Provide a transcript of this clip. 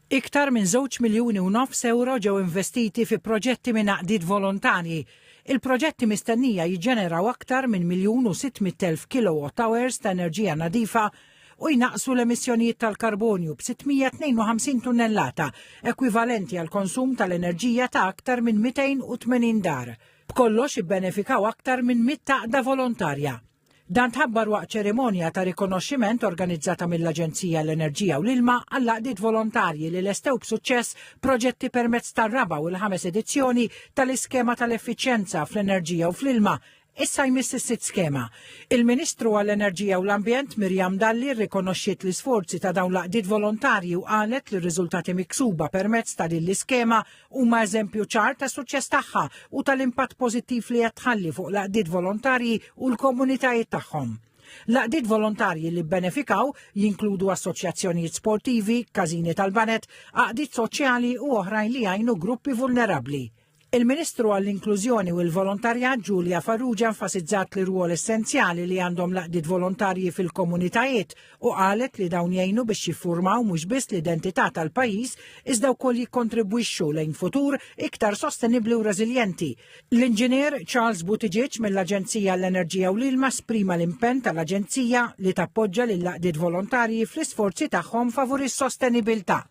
Iktar minn żewġ miljuni u nofs ewro ġew investiti fi proġetti minn għaqdiet volontarji. Il-proġetti mistennija jiġġeneraw aktar minn miljun u sitt mitt elf kilowatt hours ta' enerġija nadifa u jnaqqsu l-emissjonijiet tal-karbonju b'652 tunnellata, ekwivalenti għall-konsum tal-enerġija ta' aktar minn 280 dar. B'kollox ibbenefikaw aktar minn mitt għaqda volontarja. Dan tħabbar waqt ċerimonja ta' rikonoxximent organizzata mill-Aġenzija l-Enerġija u l-Ilma għall-għaqdiet volontarji li lestew b'suċċess proġetti permezz tar-raba' u l-ħames edizzjoni tal-Iskema tal-Effiċjenza fl-Enerġija u fl-Ilma Issa jmiss is-sitt skema. Il-Ministru għall-Enerġija u l-Ambjent Mirjam Dalli rrikonoxxiet l-isforzi ta' dawn l-għaqdiet volontarji u qalet li r-riżultati miksuba permezz ta' din l-iskema huma eżempju ċar tas-suċċess tagħha u tal-impatt pożittiv li qed tħalli fuq l-għaqdiet volontarji u l-komunitajiet tagħhom. L-għaqdiet volontarji li bbenefikaw jinkludu assoċjazzjonijiet sportivi, każini tal-banet, għaqdiet soċjali u oħrajn li jgħinu gruppi vulnerabbli. Il-Ministru għall-Inklużjoni u l-Volontarjat Ġulja Farrugia enfasizzat li rwol essenzjali li għandhom laqdiet volontarji fil-komunitajiet u qalet li dawn jgħinu biex jiffurmaw mhux biss l-identità tal-pajjiż iżda wkoll jikkontribwixxu lejn futur iktar sostenibbli u reżiljenti. L-Inġinier Charles Buttigieg mill-Aġenzija għall-Enerġija u l-Ilma sprima l-impenn tal-Aġenzija li tappoġġa lill-għaqdiet volontarji fl-isforzi tagħhom favur is-sostenibilità.